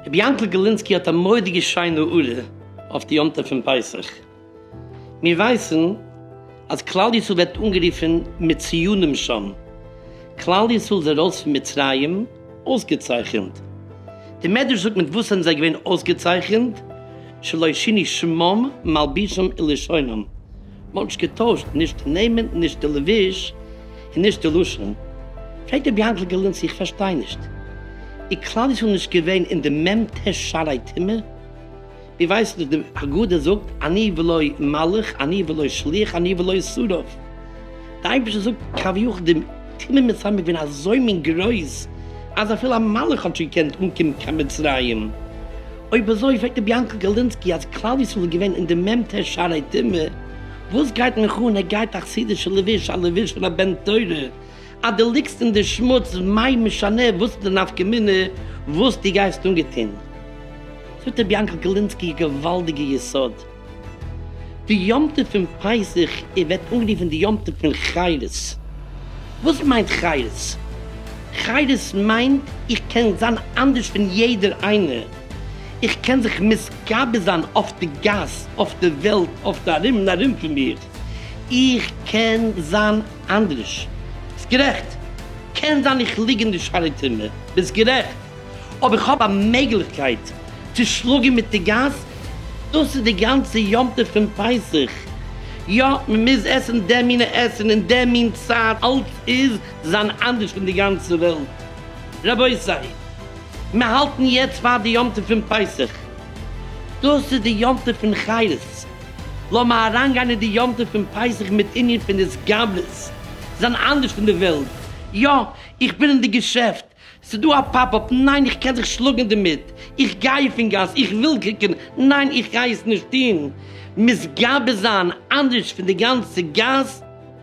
רבי יענקל גלינסקי האט א מורא'דיגע שיינע הערה אויף די יום טוב פון פסח. מיר ווייסן אז כלל ישראל ווערט אנגערופן מיט ציונים שם. כלל ישראל איז ארויס פון מצרים. אויסגעצייכענט. די מדרש זאגט מיט וואס זענען זיי געווען אויסגעצייכענט, שלא שינו שמם מלבישם ולשונם, מ'האט נישט געטוישט נישט די נעמען נישט די לבוש און נישט די לשון. פרעגט רבי יענקל גארלינסקי איך פארשטיי נישט, איז כלל ישראל נישט געווען אין די מ ט שערי טומאה? איר ווייסט וואס די הגדה זאגט, אני ולא מלך, אני ולא שליח, אני ולא שרף. די אייבערשטער זאגט כביכול די תימן מיט סאמיר געווען אזוי מין גרויס, אז אפילו א מלך האט נישט געקענט אנקומען קיין מצרים. אויב אזוי פרעגט רבי יענקל גארלינסקי אז כלל ישראל איז געווען אין די מ ט שערי תימן, וואס גייט מיך אן, ער גייט א חסידישע לבוש, א לבוש פון א בן תורה, אז דו ליגסט אין די שמוץ מאי משנה וואס די נפקא מינה וואס דו גייסט אנגעטון. זאגט רבי יענקל גלינסקי א געוואלדיגע יסוד. די יום טוב פון פסח איז ווערט אנגערופן די יום טוב פון חירות. וואס מיינט חירות? חירות מיינט איך קען זיין אנדערש פון יעדער איינער. איך קען זיך מתגבר זיין אויף די גאס, אויף די וועלט, אויף די ארום און ארום פון מיר. איך קען זיין אנדרעש, ביסט גערעכט, קען זיין איך ליג אין די שרי טעמע, ביסט גערעכט, אויב איך האב א מעגליכקייט צו שלאגען מיט די גאס, דאס איז די גאנצע יום טוב פון פסח, יא מען מוז עסען די מינע עסען אין די מין צייט, אלץ איז זיין אנדרעש פון די גאנצע וועלט, רבותי מיר האלטען יעצט פאר די יום טוב פון פסח, דאס איז די יום טוב פון חירות, לאמיר אריינגיין אין די יום טוב פון פסח מיט ענין פון התגברות, זיין אנדערש פון די וועלט. יא, איך בין אין די געשעפט. ס'דא א פאפ אפ, ניין איך קען זיך שלאגן דערמיט. איך גיי אויפן גאס, איך וויל קוקן, ניין איך גיי עס נישט טון. מתגבר זיין אנדערש פון די גאנצע גאס.